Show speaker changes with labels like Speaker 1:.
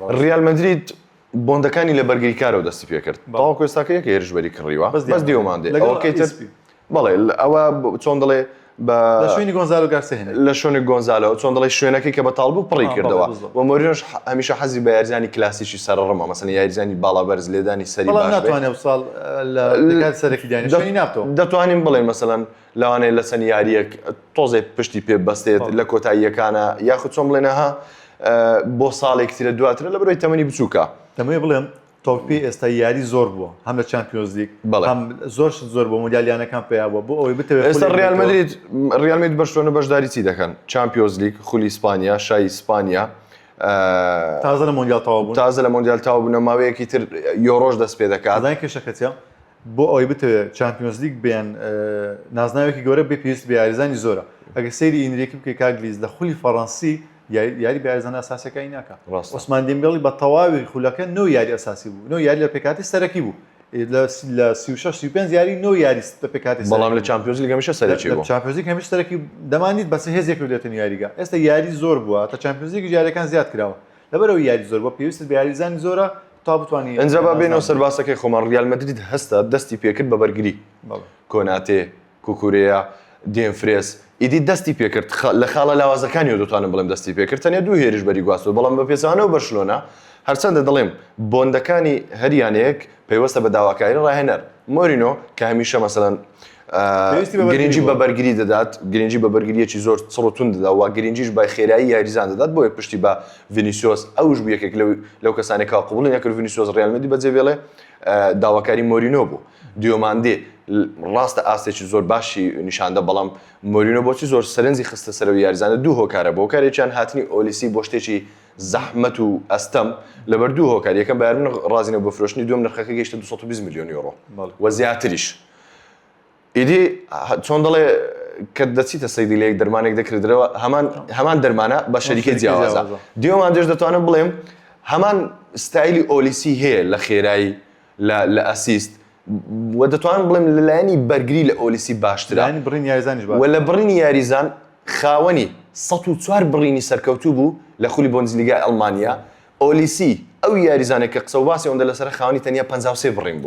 Speaker 1: ریال مەدرید بۆندەکانی لە بەرگری کارەوە دەستی پێکرد تاوەکو ئێستاکە یەک هێرشبەری کڕیوە بەس دیومان دێ لەگەڵ ئەوەکەی تر ئیسپی. بەڵێ لە- ئەوە ب- چۆن دەڵێ بە لە شوێنی
Speaker 2: گۆنزالۆ گارسیا هێنای. لە شوێنی گۆنزالۆ
Speaker 1: چۆن دەڵێ شوێنەکەی کە بەتاڵ بوو پڕی آه، کردەوە بەڵێ، بالضبط. و مۆرینۆش ح- هەمیشە حەزی بە یاریزانی کلاسیکی سەرڕمە مەسەن یاریزانی باڵا بەرز لێدانی سەری بەڵام باش بێ. ناتوانێ ئەوساڵ
Speaker 2: لە دەکات سەرەکی دانێ شوێنی ناتۆ دەتوانین بڵێن مەسەلەن
Speaker 1: لەوانەیە لە چەند یارییەک تۆزێ پشتی پێ بەستێت لە کۆتاییەکانە یاخود چۆن بڵێنەها بۆ ساڵێک ترە دواترە لە بەرەوەی تەمەنی بچووکە دەمەوێ بڵێم
Speaker 2: تۆپی ئێستا یاری زۆر بووە هەم لە چمپیۆزلیک بەڵام زۆر زۆر بۆ مۆدیالیانەکان پێیا بووە بۆ ئەوەی بتەوێت ئێستا ڕیالمەدرید
Speaker 1: ڕیالمێت بەشتۆنە بەشداری چی دەکەن چمپیۆزلیک خولی ئیسپانیا شای ئیسپانیا
Speaker 2: تازە لە مۆندیالتەوە بوو تازە لە مۆندیالتاو بوونە
Speaker 1: ماوەیەکی تر یۆرۆژ دەست پێ دەکات کێشەکەتە
Speaker 2: بۆ ئەوەی بتەوێت چمپیۆنزلیگ بێن نازناوێکی گەورە بێ پێویست بە یاریزانی زۆرە ئەگە سەیری ئینریکی بکەی کاگلیز لە خولی فەڕەنسی یاری بە یاریزانە ئەساسەکانی ناکە عوسمان دێمبێڵی بە تەواوی خولەکە نۆ یاری ئەساسی بوو نۆ یاری لە پێکاتی سەرەکی بوو لە سی و شەش سی و پێنج یاری نۆ یاری لە پێکاتی بەڵام لە چمپیۆنزلیگ هەمیشە
Speaker 1: سەرەکی بوو چمپیۆنزلیگ هەمیشە سەرەکی
Speaker 2: دەمانیت بەس هێزێک کردێتن یاریگا ئێستا یاری زۆر بووە تا چمپیۆنزلیگ یاریەکان زیاد کراوە لەبەرەوەی یاری زۆر بۆ پێویستت بە یاریزانی زۆرە تا بتوانانی ئەنجا با بێنەوە سەر باسەکەی
Speaker 1: خۆمان ڕیال مەدرید هەستا دەستی پێکرد بە بەرگری کۆناتێ کوکورێا دێم فرێس ئیدی دەستی پێکرد لە خاڵە لاوازەکانیەوە دەتوانم بڵێم دەستی پێکرد تەنێ دوو هێرش بەری گواستەوە بەڵام بە پێچانەوە بەرشلۆنە هەرچەندە دەڵێم بۆندەکانی هەریانەیەک پەیوەستە بە داواکاری ڕاهێنەر مۆرینۆ کە هەمیشە مەسەلەن گرنگی بە بەرگری دەدات گرنگی بە بەرگریەکی زۆر چڕتون دەدا و گرنگیش بای خێرایی یاریزان دەدات بۆیە پشتی بە ڤینیسیۆس ئەوش بوو یەکێک لەو کەسانێکا قوبڵی نەکرد ڤینیسیۆس ڕیال مەدی بەجێ بێڵێ داواکاری مۆرینۆ بوو دیۆماندێ ڕاستە ئاستێکی زۆر باشی نیشاندە بەڵام مۆرینۆ بۆچی زۆر سەرنجی خستە سەر و یاریزانە دوو هۆکارە بۆ کارێکیان هاتنی ئۆلیسی بۆ شتێکی زەحمەت و ئەستەم لەبەر دوو هۆکار یەکەم بارمن ڕازینە بۆ فرۆشتنی دوم نرخەکە گەشتە 220 میلیۆن یۆرۆ و زیاتریش ئیدی چۆن دەڵێ کە دەچیتە سەیری لەیەک دەرمانێک دەکردرەوە هەمان هەمان دەرمانە بە شەریکە جیاوازە دێوان دێش دەتوانم بڵێم هەمان ستایلی ئۆلیسی هەیە لە خێرایی لە ئەسیست و دەتوانم بڵێم لەلایەنی بەرگری لە ئۆلیسی باشترا بڕین یاریزانیش و لە بڕینی یاریزان خاوەنی 1940 بڕینی سەرکەوتوو بوو لە خولی بۆنزلیگای ئەڵمانیا ئۆلیسی ئەو یاریزانێک کە قسە و باسی ئەوەندە لەسەر خاوەنی تەنیا 53 بڕین بوو.